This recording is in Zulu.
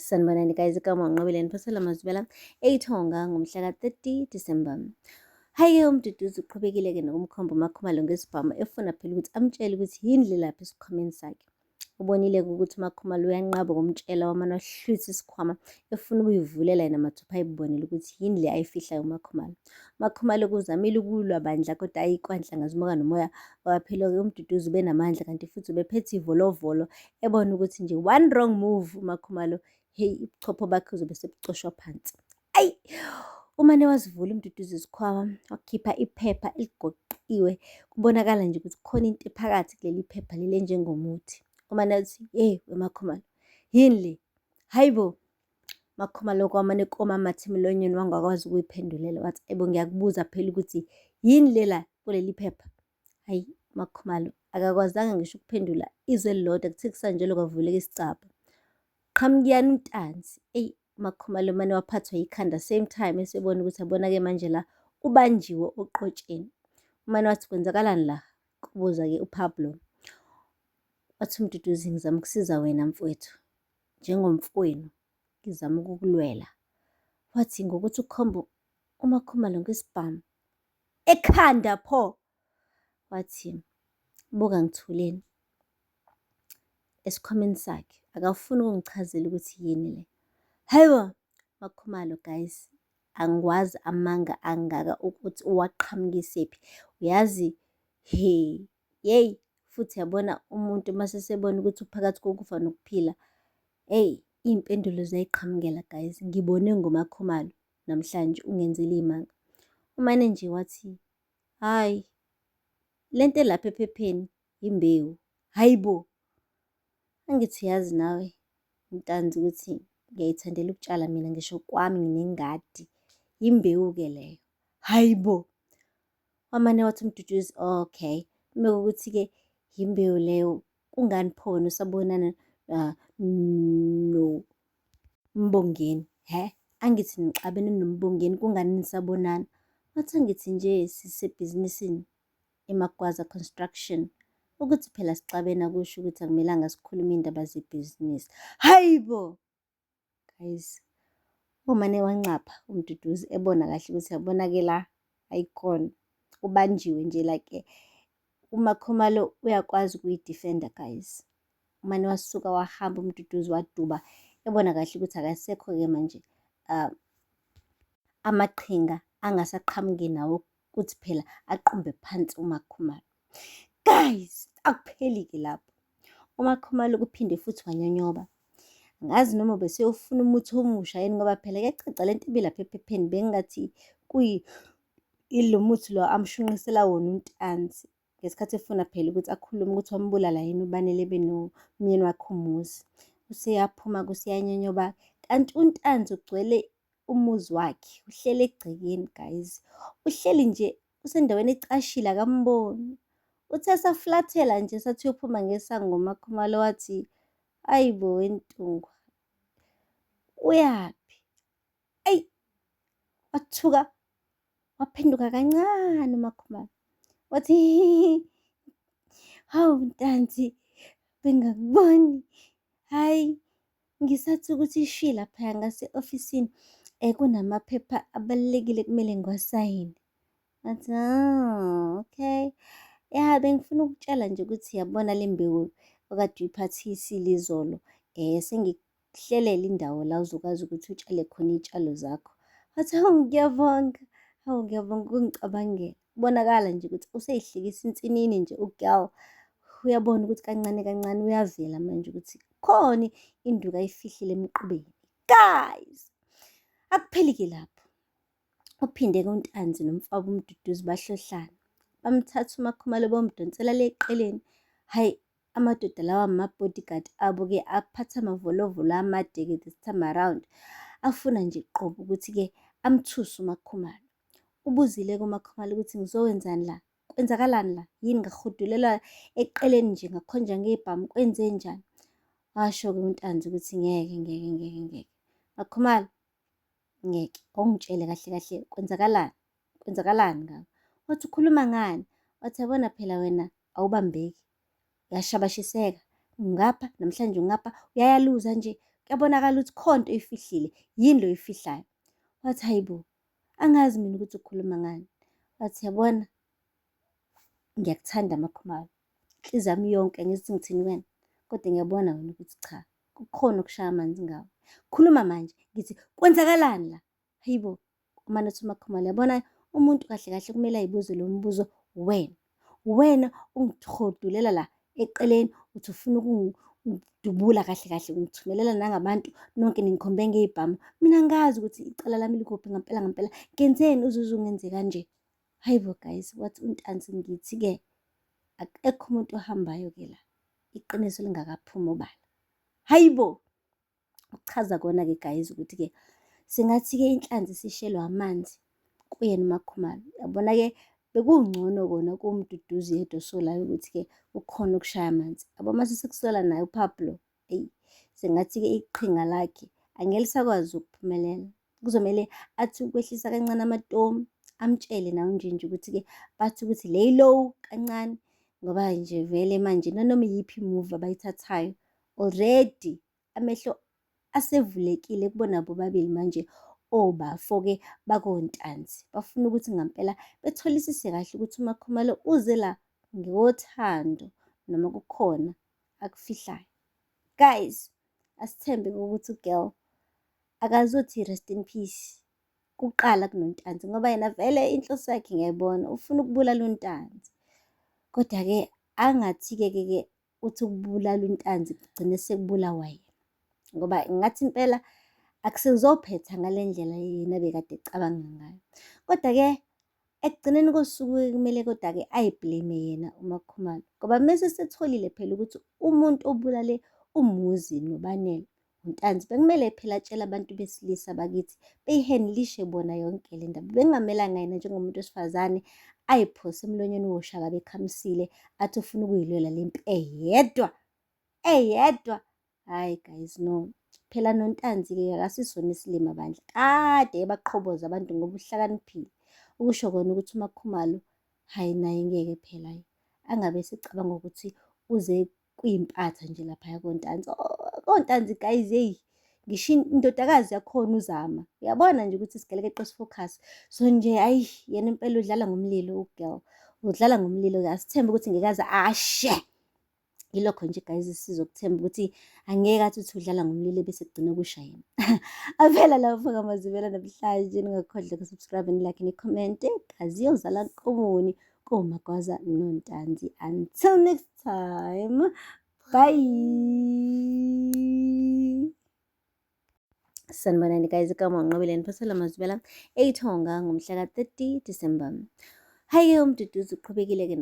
sanibonani guys igama unqobeleni phosela mazibela eyithonga ngomhla ka-30 disemba hhayi-ke umduduzi uqhubekile-ke nokumkhomba umakhumalo ngesibhamu efuna phela ukuthi amtshele ukuthi yini lelaphi esikhwameni sakhe ubonile-ke ukuthi umakhumalo uyanqaba ukumtshela wamane wahlwitha isikhwama efuna ukuyivulela yena mathupha ayibonele ukuthi yini le ayifihlayo umakhumalo umakhumalo kuzamile ukulwa bandla kodwa ayikwanhlangazimuka nomoya waphilo-ke umduduzi ubenamandla kanti futhi ubephethe ivolovolo ebona ukuthi nje one wrong move umakhumalo heyi ubuchopho bakhe uzobe sebucoshwa phansi ayi umane wazivula umduduzi izikhwama wakhipha iphepha eligoqiwe kubonakala nje ukuthi khona into ephakathi kuleli phepha leli enjengomuthi umane uthi hey wemakhumalo yini le hayi bo makhumalo kwamane komamathi emlonyeni wangakwazi ukuyiphendulela wathi ebo ngiyakubuza phela ukuthi yini lela kuleli phepha Hayi Makhumalo akakwazanga ngisho ukuphendula izwe elilodwa kuthe kusanjalo kwavuleka isicabha. Qhamukiyani uNtanzi. Eyi Makhumalo mane waphathwa yikhanda same time esebona ukuthi abona-ke manje la ubanjiwe oqotsheni. Umane wathi kwenzakalani la? Kubuza-ke uPablo. Wathi uMduduzi ngizama ukusiza wena mfwethu njengomfowenu ngizama ukukulwela. Wathi ngokuthi ukhomba uMakhumalo ngesibhamu ekhanda pho wathi buka ngithuleni esikhwameni sakhe akafuni ukungichazela ukuthi yini le hayibo makhumalo guys angikwazi amanga angaka ukuthi uwaqhamukisephi uyazi he yeyi futhi yabona umuntu uma sesebona ukuthi uphakathi kokufa nokuphila eyi iy'mpendulo ziyayiqhamukela guys ngibone ngomakhumalo namhlanje ungenzele iy'manga. Umane nje wathi, hhayi le nto elapha ephepheni yimbewu, hhayi bo. Angithi uyazi nawe Ntanzi ukuthi ngiyayithandela ukutshala mina ngisho kwami nginengadi, yimbewu-ke leyo, hhayi bo. wamane wathi uMduduzi okay uma ukuthi-ke yimbewu leyo kungani pho wena usabonana uh, no Mbongeni he angithi nixabene noMbongeni kungani nisabonana wathi angithi nje sisebhizinisini eMagwaza Construction ukuthi phela sixabena kusho ukuthi akumelanga sikhulume indaba zebhizinisi hayibo guys umane wancapha umduduzi ebona kahle ukuthi yabona ke la ayikona ubanjiwe nje like uma khumalo uyakwazi ukuyidefenda guys umane wasuka wahamba umduduzi waduba ebona kahle ukuthi akasekho-ke manje um amaqhinga angasaqhamuki nawo kuthi phela aqumbe phansi uMakhumalo. Guys, akupheli-ke lapho. UMakhumalo kuphinde futhi wanyonyoba. Ngazi noma beseyofuna umuthi omusha yini ngoba phela kuyacaca le nto ibilapha ephepheni bengingathi kuyi ilo muthi lo amshunqisela wona untanzi. ngesikhathi efuna phela ukuthi akhulume ukuthi wambulala yini ubani lebe nomyeni wakhe umuzi useyaphuma kusiyanyonyoba kanti untanzi ugcwele umuzi wakhe uhleli egcekeni guys uhleli nje usendaweni ecashile akamboni uthe saflathela nje sathi uyophuma ngesango umakhumalo wathi ayi bo wentungwa uyaphi eyi wathuka waphenduka kancane umakhumalo wathi hawu ntanzi bengakuboni hhayi ngisathi ukuthi ishwi laphaya ngase-ofisini um kunamaphepha abalulekile kumele ngiwasayine ngathi oh, okay ya bengifuna ukutshela nje ukuthi yabona le mbewu okade uyiphathise ilizolo um eh, ukuhlelela indawo la uzokwazi ukuthi utshale khona iy'tshalo zakho. Wathi, hawu ngiyabonga, hawu ngiyabonga ukungicabangela. Kubonakala nje ukuthi useyihlikisa insinini nje ugirl. Uyabona ukuthi kancane kancane uyavela manje ukuthi khona induku ayifihlile emqubeni. Guys! Akupheli-ke lapho. Uphinde kuNtanzi nomfabo uMduduzi bahlohlana. Bamthatha uMakhumalo bomdonsela le eqeleni. Hhayi, Amadoda lawa ama-bodyguard abo-ke aphatha amavolovolo amade-ke this time around afuna nje qobo ukuthi-ke amthuse uMakhumalo. Ubuzile-ke uMakhumalo ukuthi ngizowenzani la? Kwenzakalani la? Yini ngahudulelwa eqeleni nje ngakhonjwa ngebhamu kwenze njani? Washo-ke uNtanzi ukuthi ngeke ngeke ngeke ngeke. Makhumalo ngeke awungitshele kahle kahle kwenzakalani? Kwenzakalani ngako? Wathi ukhuluma ngani? Wathi yabona phela wena awubambeki uyashabashiseka ngapha namhlanje ngapha uyayaluza nje kuyabonakala ukuthi khona into oyifihlile yini lo yifihlayo wathi hayibo angazi mina ukuthi ukhuluma ngani wathi yabona ngiyakuthanda amakhumalo inhliziyo yami yonke ngithi ngithini wena kodwa ngiyabona wena ukuthi cha kukhona okushaya amanzi ngawo khuluma manje ngithi kwenzakalani la Hayibo, umane uthi uMakhumalo yabona umuntu kahle kahle kumele ayibuze lo mbuzo wena. Wena ungithodulela la eceleni uthi ufuna ukungidubula kahle kahle ngithumelela nangabantu nonke ningikhombe ngey'bhamu. Mina ngazi ukuthi icala lami likuphi ngampela ngampela ngenzeni uzuze ungenze kanje. Hayibo guys wathi untanzi ngithi-ke akekho umuntu ohambayo-ke la iqiniso lingakaphumi obala. Hayibo! Ukuchaza kona-ke guys ukuthi-ke singathi-ke inhlanzi sishelwe amanzi kuyena uMakhumalo. Yabona-ke bekungcono kona kuwuMduduzi yedwa osolayo ukuthi-ke ukhona ukushaya amanzi. Yabo mase sekusola naye uPablo, eyi sengathi-ke iqhinga lakhe angeke lisakwazi ukuphumelela. kuzomele athi ukwehlisa kancane amatomu amtshele nawo nje nje ukuthi-ke bathi ukuthi lay low kancane ngoba nje vele manje nanoma iyiphi imuvi abayithathayo already amehlo asevulekile kubona bobabili manje obafo-ke bakontanzi bafuna ukuthi ngampela betholisise kahle ukuthi umakhumalo uze la ngothando noma kukhona akufihlayo guys asithembe ukuthi ugirl akazothi rest in peace kuqala kunontanzi ngoba yena vele inhloso yakhe ngiyayibona ufuna ukubulala untanzi kodwa-ke angathi-ke ke ke uthi ukubulala untanzi kugcine sekubulawa yena ngoba ngathi impela akusezophetha ngale ndlela yena bekade ecabanga ngayo kodwa-ke Ekugcineni kosuku kumele kodwa-ke ayiblame yena uMakhumalo ngoba mese setholile phela ukuthi umuntu obulale umuzi nobanele uNtanzi bekumele phela atshele abantu besilisa bakithi beyihenlishe bona yonke le ndaba bekungamelanga yena njengomuntu wesifazane ayiphose emlonyeni woshaka bekhamisile athi ufuna ukuyilwela le mpi eyedwa eyedwa Hayi guys no. Phela noNtanzi-ke akasisona isilima bandla. Kade ebaqhoboza abantu ngoba uhlakaniphile. Ukusho kona ukuthi uMakhumalo hayi naye ngeke phela angabe esecabanga ukuthi uze kuyimpatha nje laphaya kontanzi oh, kontanzi guys hey ngisho indodakazi yakhona uzama uyabona nje ukuthi sigelekeqe sifocus so nje ayi yena impela udlala ngomlilo ugirl udlala ngomlilo ke asithembe ukuthi ngeke aze ashe ah, yilokho nje guys sizokuthemba ukuthi angeke athi uthi udlala ngomlilo bese kugcina kusha yena avela lawo faka amazivela namhlanje ningakhohlwa kusubscribe nilike nikhomente kazi yozala nkomoni komagwaza nontanzi until next time bye sanibonani guys kama unqobile niphosela amazivela eyithonga ngomhla ka-30 december hhayi-ke umduduzi uqhubekile-ke